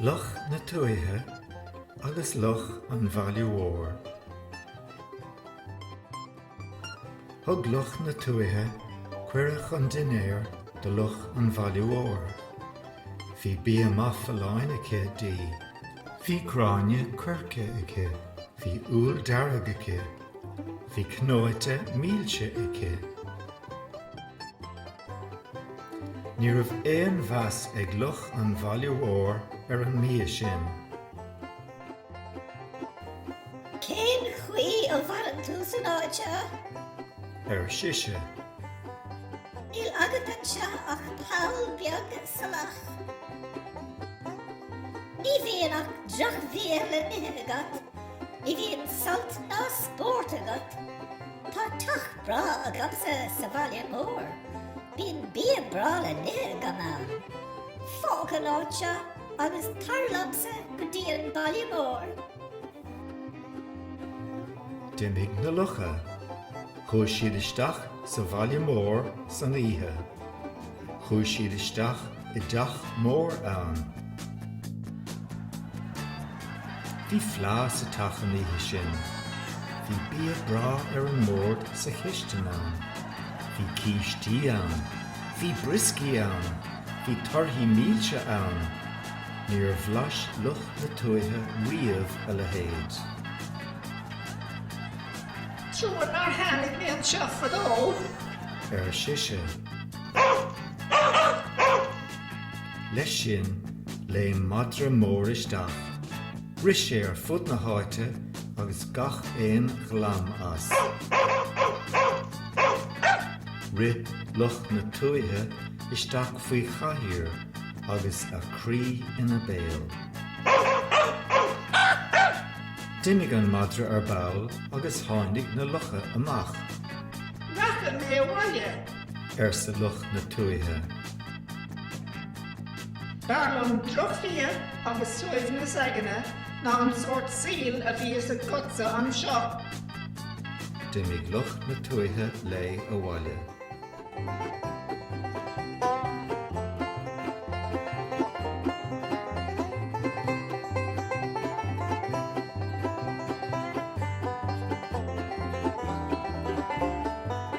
Luch na Tuaithe agus Luch an Bhaile Mhóir. Thug Luch na Tuaithe cuireadh chun dinnéir do Luch an Bhaile Mhóir. Bhí bia maith folláin aici di. Bhí gráinne coirce aici. Bhí úll dearg aici. Bhí cnóite milse aici. Ní raibh aon mheas ag luch an bhaile mhóir ar an mbia sin. Cén chaoi a maireann tú san áit seo? ar sise. Níl agat anseo ach poll beag salach. Ní bhíonn ach drochbhia le n-ithe agat. Ní bhíonn sult ná spórt agat. Tá teach breá agamsa sa bhaile mór. Bíonn bia breá le n-ithe agam ann. Fág an áit seo agus tar liomsa go dtí an baile mór. D'imigh na lucha. Chuaidh siad isteach sa bhaile mór san oíche. Chuaidh siad isteach i dteach mór ann. Bhí fleá sa teach an oíche sin. Bhí bia breá ar an mbord sa chistin ann. Bhí cístí ann. Bhí brioscaí ann. Bhí torthaí milse ann. Níor bhlais luch na tuaithe riamh a leithéid. Trua nár tháinig mé anseo fadó! ar sise. Leis sin, léim madra mór isteach. Rith sé ar fud na háite agus gach aon ghlam as. Rith luch na tuaithe isteach faoi chathaoir agus a croí ina béal. D'imigh an madra ar ball agus tháinig na lucha amach. Rachaidh mé abhaile! arsa luch na tuaithe. B'fhearr liom drochbhia agus suaimhneas aigne ná an sórt saoil a bhíos agatsa anseo. D'imigh luch na tuaithe léi abhaile.